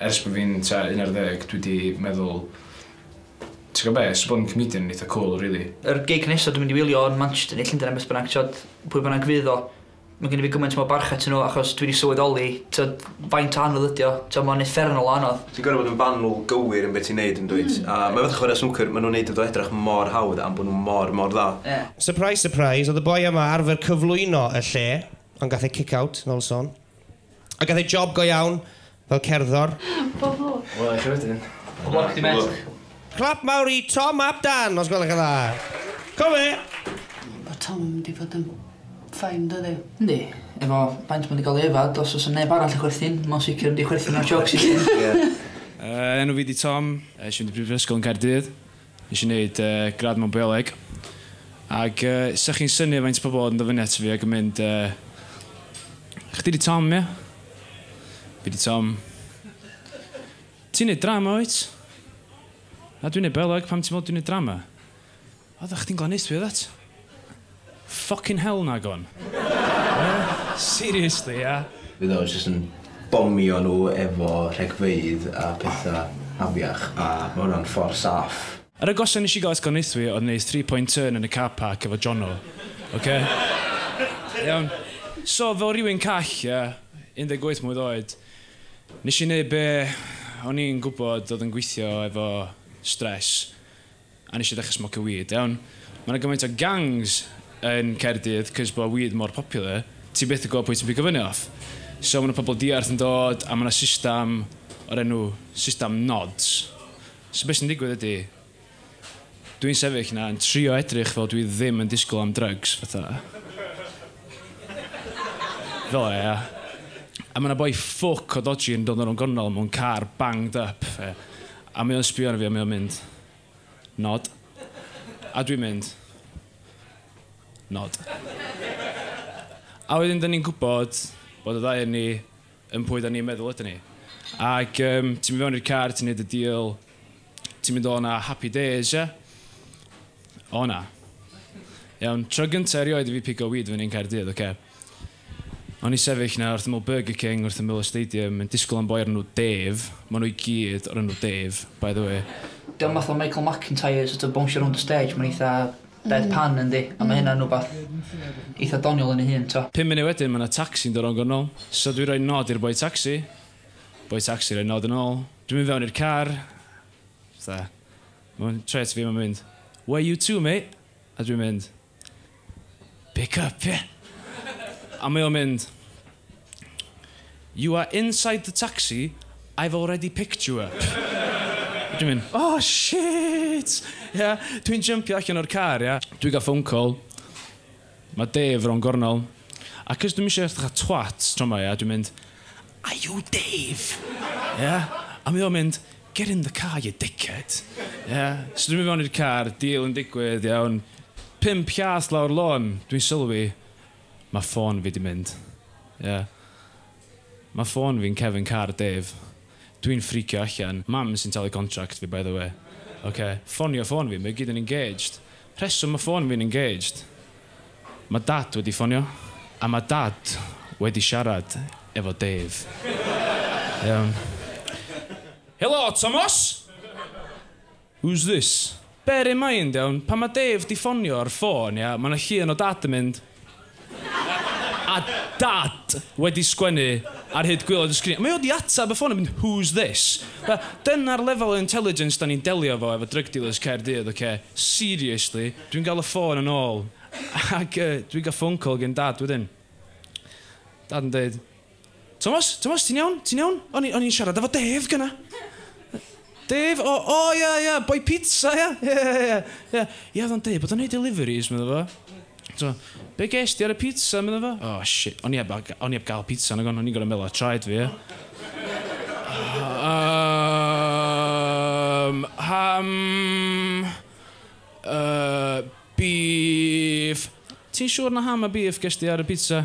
Ers bo fi'n tua un ar ddeg dwi 'di meddwl ti gwbo be so bod yn comedian yn eitha cwl rili. Yr gig nesa dwi mynd i wylio yn Manchester ne Llundain ne beth bynnag t'od pwy bynnag fydd o ma' gen i fi gymaint mor barch atyn nhw achos dwi 'di sylweddoli t'od faint o anodd ydi o t'od ma'n uffernol o anodd. Ti'n gor'o' bod yn fanwl gywir yn be' ti'n neud yndwyt? A ma' fatha chware snwcer ma' nhw'n neud iddo edrach mor hawdd am bo' nhw mor mor dda. Ie. Surprise surprise o'dd y boi yma arfer cyflwyno y lle ond gath e kick out nol son. A gath e job go iawn fel cerddor. Pob lwc. Wela i chi wedyn. Pob lwc ti met. Clap mawr i Tom ap Dan os gwelwch yn dda. Co fe! Ma Tom di fod yn fine do ddi? Yndi. Efo faint ma di ga'l ei yfad os osa neb arall yn chwerthin ma o'n sicir mynd i chwerthin ar jocks i gyd. Ie. Yy enw fi di Tom. Nesh i fynd i brifysgol yn Caerdydd. Nes i wneud gradd mewn bioleg ag 'sa chi'n synnu faint o pobl oedd yn dod fyny ato fi ag yn mynd Chdi 'di Tom ia? Fi 'di Tom. Ti'n neud drama wyt? Na dwi'n neud bioleg, pam ti'n meddwl dwi'n neud drama? Oeddach chdi'n glanheuthwr oeddet? Ffycin hel nagon! Seriously ia? Fydd o jyst yn bomio nhw efo rhegfeydd a petha afiach a ma hwnna'n ffor saff. Yr agosa nes i gael esgonaethwy oedd neud three point turn yn y car park efo Jono. Oce? Iawn? So fel rywun call ia, 18 mlwydd oed, nes i neud be o'n i'n gwbod oedd yn gweithio efo stress, A nes i ddechre smocio weed, iawn. Ma' 'na gymaint o gangs yn Caerdydd cos bo' weed mor popular, ti byth yn gwbo pwy ti'n pigo fyny off. So ma' 'na pobol diarth yn dod a ma' 'na systam o'r enw systam nods. So be' sy'n digwydd ydi dwi'n sefyll 'na yn trio edrych fel dwi ddim yn disgwl am drygs fatha fel 'a ia. A ma' 'na boi ffwc o dodgy yn dod o rownd gornel mewn car banged up, ia. A mae o'n sbio arno fi a mae o'n mynd, Nod. A dwi'n mynd, Nod. A wedyn 'dan ni'n gwybod bod y ddau o ni yn pwy 'dan ni'n meddwl ydyn ni. Ac yym ti'n mynd fewn i'r car, ti'n neud y deal, ti'n mynd o 'na happy days ie? O na. Iawn, tro gynta' erioed i fi pigo weed fyny yn Caerdydd, ocê? O'n i sefyll 'na wrth ymyl Burger King wrth ymyl y stadium yn disgwyl am boi o'r enw Dave, ma' nhw i gyd o'r enw Dave, by the way. Dio'm fatha Michael McIntyre sort of bownsio rownd y stêj mae'n eitha dead pan yndi? A ma' hynna'n wbath eitha doniol yn ei hun t'o'? Pum munud wedyn ma' 'na tacsi'n dod rownd gornel, so dwi roi nod i'r boi tacsi, boi tacsi roi nod yn ôl, dwi'n mynd fewn i'r car, fatha, ma'n troi ato fi a ma'n mynd, Where you to mate? a dwi'n mynd, Pick up, ie? A mae o'n mynd, You are inside the taxi, I've already picked you up. A dwi'n mynd, O shit! Ia? Dwi'n jympio allan o'r car, ia? Dwi'n cael phone call, mae Dave rownd gornel, a cos dwi'm eisiau edrych fatha twat tro 'ma, ia, dwi'n mynd, Are you Dave? Ia? A mae o'n mynd, Get in the car you dickhead. Ia? So dwi'n mynd fewn i'r car, deal yn digwydd, iawn. Pump llath lawr lôn, dwi'n sylwi, ma ffôn fi di mynd. Ia. Ma ffôn fi'n cefn car Dave. Dwi'n ffricio allan. Mam sy'n talu contract fi by the way. Ocê. Ffonio ffôn fi, mae o gyd yn engaged. Rheswm ma ffôn fi'n engaged? Ma dad wedi ffonio a ma dad wedi siarad efo Dave. Iawn. Helo Tomos! Who's this? Bear in mind iawn, pan ma Dave di ffonio ar ffôn ia, ma na llun o dad yn mynd. A dad wedi sgwennu ar hyd gwaelod y sgrin. Mae o 'di ateb y ffôn a mynd 'who's this? Dyna'r lefel o intelligence 'da ni'n delio efo efo drug dealers Caerdydd ocê? Seriously? Dwi'n gael y ffôn yn ôl ac yy dwi'n cael phone call gin dad wedyn. Dad yn deud Tomos? Tomos, ti'n iawn? Ti'n iawn? O'n i, o'n i'n siarad efo Dave gyna. Dave? O, o, ia, ia, boi pizza, ia? Ia, ia, ia. Ia, ia, oedd o'n deud bod o'n neud deliveries, meddwl fo. So, be ges di ar y pizza, meddwl fo? O, oh, shit, o'n i heb, o'n i heb gael pizza, nag o'n i'n gorau meddwl ar traed fi, ia? Um, ham... Uh, beef... Ti'n siŵr na ham a beef ges di ar y pizza?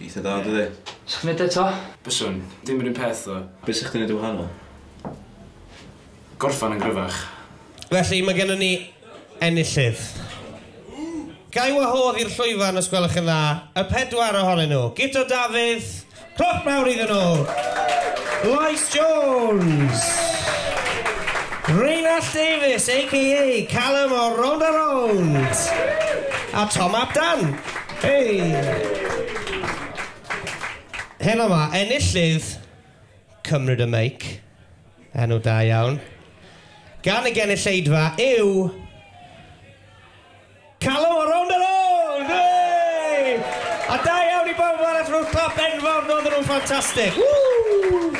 Eitha dda dydi? Sa chdi'n neud o eto? Byswn. Dim yr un peth ddo. Be' sa chdi'n neud yn wahanol? Gorffan yn gryfach. Felly, mae gennon ni enillydd. Ga i wahodd i'r llwyfan, os gwelwch yn dda, y pedwar ohonyn nhw. Guto Dafydd, cloc mawr iddyn nhw! Lois Jones! Rheinallt Davies, aka Callum o Rownd a Rownd! A Tom ap Dan! Hei! Helo 'ma, enillydd Cymryd y Meic, enw da iawn, gan y genulleidfa yw Callum o Rownd a Rownd! Hei! A da iawn i bawb arall, rhowch clap enfawr, roedden nhw'n ffantastig! Ww!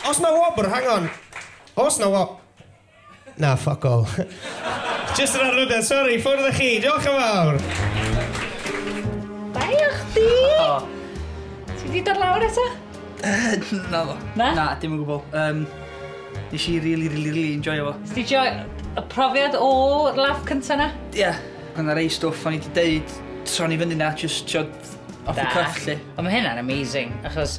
Os na wobr, hang on, os na wobr... Na, ffoc all. Jyst yn arlwyddiant, sori, ffwrdd â chi, diolch yn fawr! Bai o chdi! Ti di dod lawr eto? Na ddo. Na? Na, dim yn gwbl. Um, nes i really, really, really enjoyo fo. Sti joy y profiad o laff cynta na? Ie. Yeah. Gan ar ei stwff o'n i di deud tron i fyny na, just, tiod, off the cuff, lly. Ond mae hynna'n amazing, achos